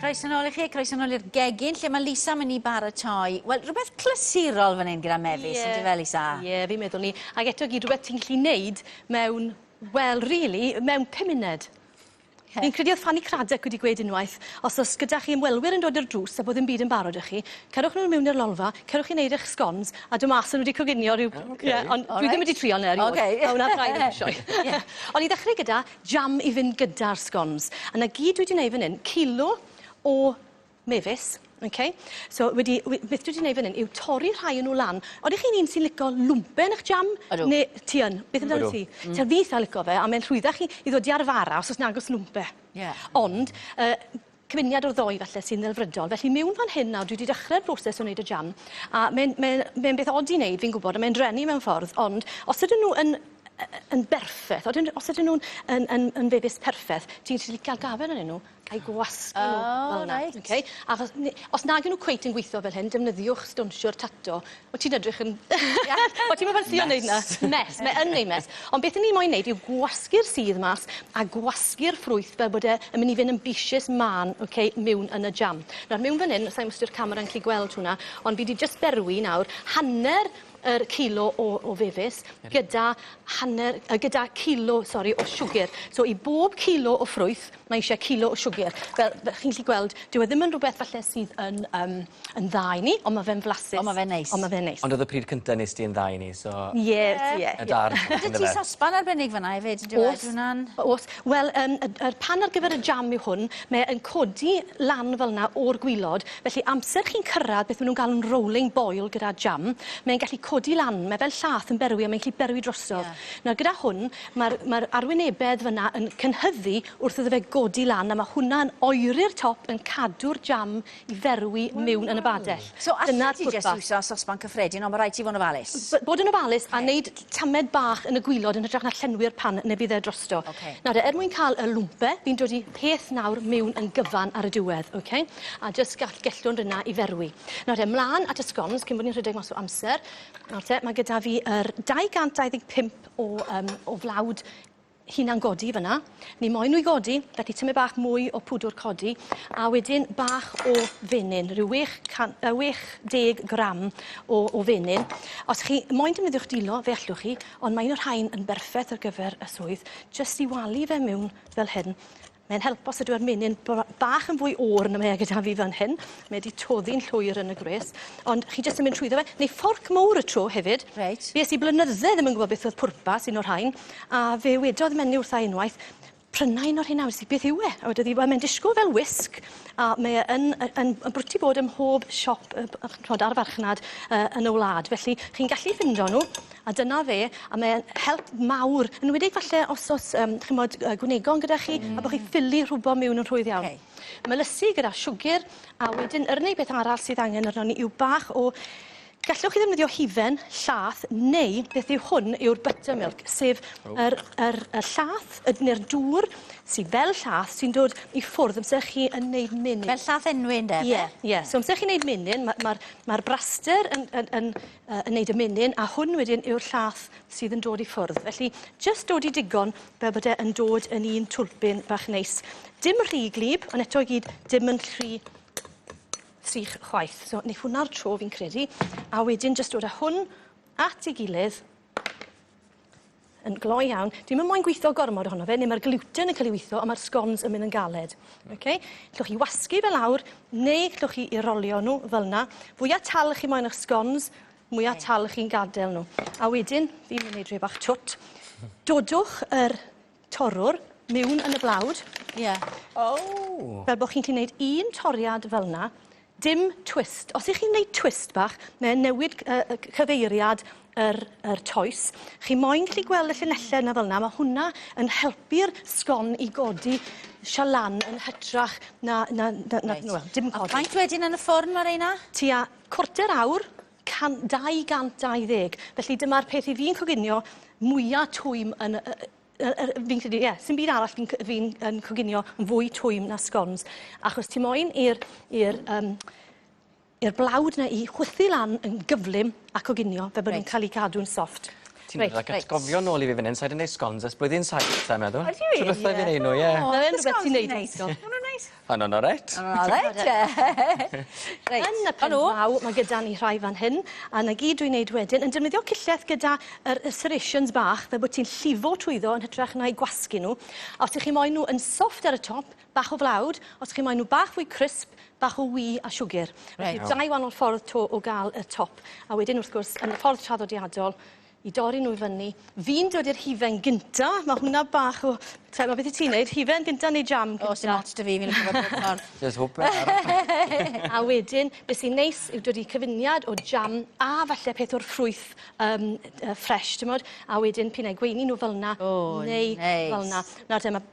Croes yn ôl i chi, croes yn ôl i'r gegin, lle mae Lisa mynd i baratoi. Wel, rhywbeth clysurol fan hyn gyda mefus, yeah. ydy fe, Lisa? Ie, yeah, fi'n meddwl ni. Ac eto gyd rhywbeth ti'n gallu neud mewn, wel, really, mewn pum munud. Fi'n credu oedd Fanny Cradock wedi gweud unwaith, os oes gyda chi ymwelwyr yn dod i'r drws a bod ddim byd yn barod 'da chi, cerwch nhw mewn i'r lolfa, cerwch i wneud eich sgons, a dod mas a nhw wedi coginio rhyw... O, ok. Ie, ond dwi ddim wedi trio 'na erioed. Ok. A wna braidd ddim sioe. Ie. Ond i ddechrau gyda jam i fynd gyda'r sgons. A 'na gyd dwi 'di wneud fan hyn, cilo o mefus, ok? So wedi we- beth dwi 'di neud fan 'yn yw torri rhai o nw lan. Odych chi'n un sy'n lico lwmpen y'ch jam? Odw. Ne' ti yn? Beth amdanat Odw. ti? Mm. T'od fi itha lico fe a mae'n rhwyddach i i ddod i arfara os o's nag o's lwmpe. Ie. Ond yy cyfuniad o'r ddou falle sy'n ddelfrydol. Felly miwn fan hyn nawr dwi 'di dechre'r broses o neud y jam a mae'n mae'n mae'n beth od i neud fi'n gwbod a mae'n dreni mewn ffordd ond os ydyn nw yn yy yn berffeth odyn os ydyn nw'n yn yn yn fefus perffeth ti'n gallu ca'l gafael arnyn nw a'u gwasgu nhw fel 'na. O reit. Oce? Achos ni- os nag 'yn nw cweit yn gwitho fel hyn defnyddiwch stownsiwr tato. O ti'n edrych yn... Ia? O ti'm yn ffansio neud 'na? Mess. Mess mae yn neud mess. Ond beth 'yn ni moyn neud yw gwasgu'r sudd mas a gwasgu'r ffrwyth fel bod e yn myn' i fyn' yn bishus mân oce miwn yn y jam. Nawr miwn fan 'yn sai'm os 'di'r camera yn 'llu gweld hwnna ond fi 'di jyst berwi nawr hanner yr cilo o o fefus gyda hanner yy gyda cilo sori o siwgyr. So i bob cilo o ffrwyth Mae eisiau cilo o siwgr. Fel fel chi'n gallu gweld dyw e ddim yn rhywbeth falle sydd yn yym yn dda i ni ond ma' fe'n flasus. Ond ma' fe'n neis. Ond ma' fe'n neis. Ond o'dd y pryd cynta nes di yn dda i ni so... Ie wyt ti? Ie. Y da reswm on'd yfe? 'Da ti sosban arbennig fan 'na efyd on'd yw e? O's. Yw wnna'n... O's. Wel yym y d- yr pan ar gyfer y jam yw hwn mae e yn codi lan fel 'na o'r gwilod felly amser chi'n cyrradd beth ma' nw'n galw'n rolling boil gyda jam mae'n gallu codi lan mae fel llath yn berwi a mae'n gallu berwi drosodd. Ie. Nawr gyda hwn Mae'r mae'r arwynebedd fyna yn cynhyddu wrth iddo fe godi lan a mae hwnna yn oeri'r top yn cadw'r jam i ferwi miwn yn y badell. So allet ti jyst iwso sosban cyffredin ond mae rhaid ti fod yn ofalus? B- bod yn ofalus a wneud tamed bach yn y gwilod yn hytrach na llenwi'r pan neu bydd e drosto. Ok. Nawr de, er mwyn cael y lwmpe, fi'n dod i peth nawr miwn yn gyfan ar y diwedd, ok? A jyst gall gellwng rinna i ferwi. Nawr de, mlan at y scones cyn bod ni'n rhedeg mas o amser. Nawr te, mae gyda fi yr 225 o um, o flawd hunan godi fyna. Ni moyn nhw i godi, felly tymu bach mwy o pwdwr codi, a wedyn bach o fenyn, rhyw 80 gram o, o fenyn. Os chi moyn defnyddio'ch dilo, fe allwch chi, ond mae un o'r rhain yn berffaith ar gyfer y swydd, jyst i walu fe mewn fel hyn, Mae'n help os ydyw yr menyn br- bach yn fwy oer na mae e gyda fi fan hyn. Mae e 'di toddi'n llwyr yn y gwres. Ond chi jyst yn mynd trwyddo fe. Neu fforc mowr y tro hefyd. Reit. Fues i blynydde ddim yn gwybod beth oedd pwrpas un o'r rhain, a fe wedodd menyw wrtha i unwaith, Prynna un o'r rheina, wedes i, beth yw e? A wedodd hi, wel mae'n disgwyl fel wisg, a mae e yn, yn, yn, yn brwti bod ym mhob siop, yy, ch'mod, ar y farchnad yy, yn y wlad. Felly, chi'n gallu ffindo nhw. A dyna fe, a mae e'n help mawr, yn enwedig falle os o's yym ch'mod yy gwynegon gyda chi... Hmm. ...a bo' chi ffili rhwbo miwn yn rhwydd iawn. Oce. Melysu gyda siwgyr a wedyn yr unig beth arall sydd angen arnon ni yw bach o gallwch chi ddefnyddio hufen, llath neu beth yw hwn yw'r buttermilk sef... O. ...yr yr y llath yy ne'r dŵr sy fel llath sy'n dod i ffwrdd amser chi yn neud menyn. Fel llath enwi ynde fe? Ie ie. So amser chi'n neud menyn ma' ma'r ma'r braster yn yn yn uh, yn neud y menyn, a hwn wedyn yw'r llath sydd yn dod i ffwrdd. Felly, just dod i digon fel bod e yn dod yn un twlpyn bach neis. Dim rhy glib, ond eto i gyd, dim yn rhy sych chwaith. So, neith hwnna'r tro fi'n credu. A wedyn, just dod â hwn at ei gilydd, yn gloi iawn. Dwi'm yn moyn gwitho gormod ohono fe, neu mae'r gluten yn cael ei witho, ond mae'r scones yn mynd yn galed. Mm. Okay? Llwch chi wasgu fe lawr, neu llwch chi i rolio nhw fel yna. Fwya tal chi moyn eich scones, mwya tal chi'n gadael nhw. A wedyn, fi'n mynd i wneud rhywbeth bach twt. Dodwch yr Torrwr miwn yn y blawd. Ie. Ow! Fel bo' chi'n 'llu neud un toriad fel 'na, dim twist. Os 'ych chi'n neud twist bach, mae e'n newid c- yy y c- cyfeiriad yr yr toes. Chi moyn gallu gweld y llinelle 'na fel 'na, ma' hwnna yn helpu'r sgon i godi sha lan yn hytrach na na na na... Reit. ...wel, dim codi. A faint wedyn yn y ffwrn ma' reina? Tua cwarter awr. Can- 220. Felly dyma'r peth i fi'n coginio mwya twym yn y, y, y, y, fi'n credu, ie, sy'n byd arall fi'n fi yn coginio yn fwy twym na sgons. Achos ti moyn i'r, i'r, um, i'r blawd na i chwythu lan yn gyflym a coginio fe bod right. nhw'n cael ei gadw'n soft. Ti'n right, rhaid right. gofio nôl i fi fan hyn, sa'i wedi gwneud sgons ers blwyddyn saith, sa'n meddwl. Ydy? Trwy bethau fi'n ei nhw, ie. O, yn rhywbeth ti'n neud. Nhw'n neis. Yn yn oreit. Yn oreit ie. Reit. Yn y pen draw ma' gyda ni rhai fan hyn a 'na gyd dwi'n neud wedyn yn defnyddio cillell gyda yr y serrations bach fel bo' ti'n llifo trwyddo yn hytrach na'u gwasgu n'w a os 'ych chi moyn n'w yn soft ar y top bach o flawd os chi moyn n'w bach fwy crisp bach o wii a siwgyr. Reit. Felly dau wanol ffordd 'to o ga'l y top a wedyn wrth gwrs yn y ffordd traddodiadol i dorri nhw i fyny. Fi'n dod i'r hufen gynta. Ma' hwnna bach o t'mod ma' beth i ti neud hufen gynta neu jam cynta? O sdim ots 'da fi fi'n lico fe bob ffordd. Jys hwp e ar. A wedyn be' sy'n neis yw dod i cyfuniad o jam a falle peth o'r ffrwyth yym yy ffresh t'mod a wedyn p'un ai gweini n'w fel 'na. O neis. Neu fel 'na. Nawr te ma'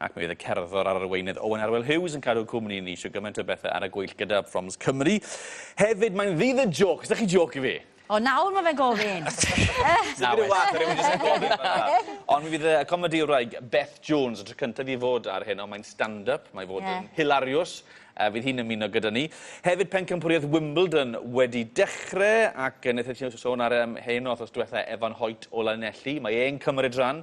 Ac mi oedd y cerddor a'r arweinydd Owen Arwel Hughes yn cadw cwmni i ni isio gymaint o bethau ar y gweill gyda Proms Cymru. Hefyd, mae'n ddydd y jôc, ydych chi jôc i fi? O, nawr mae fe'n gofyn! Na, well. Nawr, rhywun jyst yn gofyn fan'na. Ond mi fydd y comedïwraig Beth Jones y tro cyntaf i fod ar heno, mae'n stand-up, mae fod yn hilariws, a fydd hi'n ymuno gyda ni. Hefyd, pencampwriaeth Wimbledon wedi dechrau, ac wnaethon ni sôn ar heno wythnos diwetha, Evan Hoyt o Lanelli, mae e'n cymryd rhan,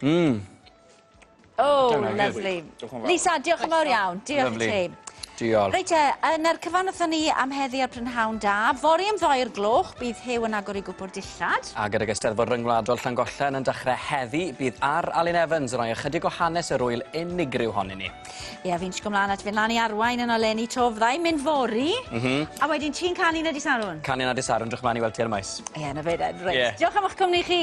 Mmm. Oh, lovely. Lisa, diolch yn fawr iawn. Diolch i ti. Diolch. Reit e, yn yr cyfan wrthyn ni am heddi ar Prynhawn Da. Fori am ddoi'r gloch, bydd Huw yn agor i gwpwr dillad. A gyda Eisteddfod Ryngwladol Llangollen yn dechrau heddi, bydd ar Alun Evans yn rhoi ychydig o hanes yr ŵyl unigryw hon i ni. Ie, fi'n sgwm lan at fynd lan i arwain yn oleni to, fyddai mynd fori. Mm -hmm. A wedyn ti'n canu na disarwn? Canu na disarwn, drwch mlaen i weld ti ar y maes. Ie, na fe, reit. Yeah. Diolch am eich cwmni chi.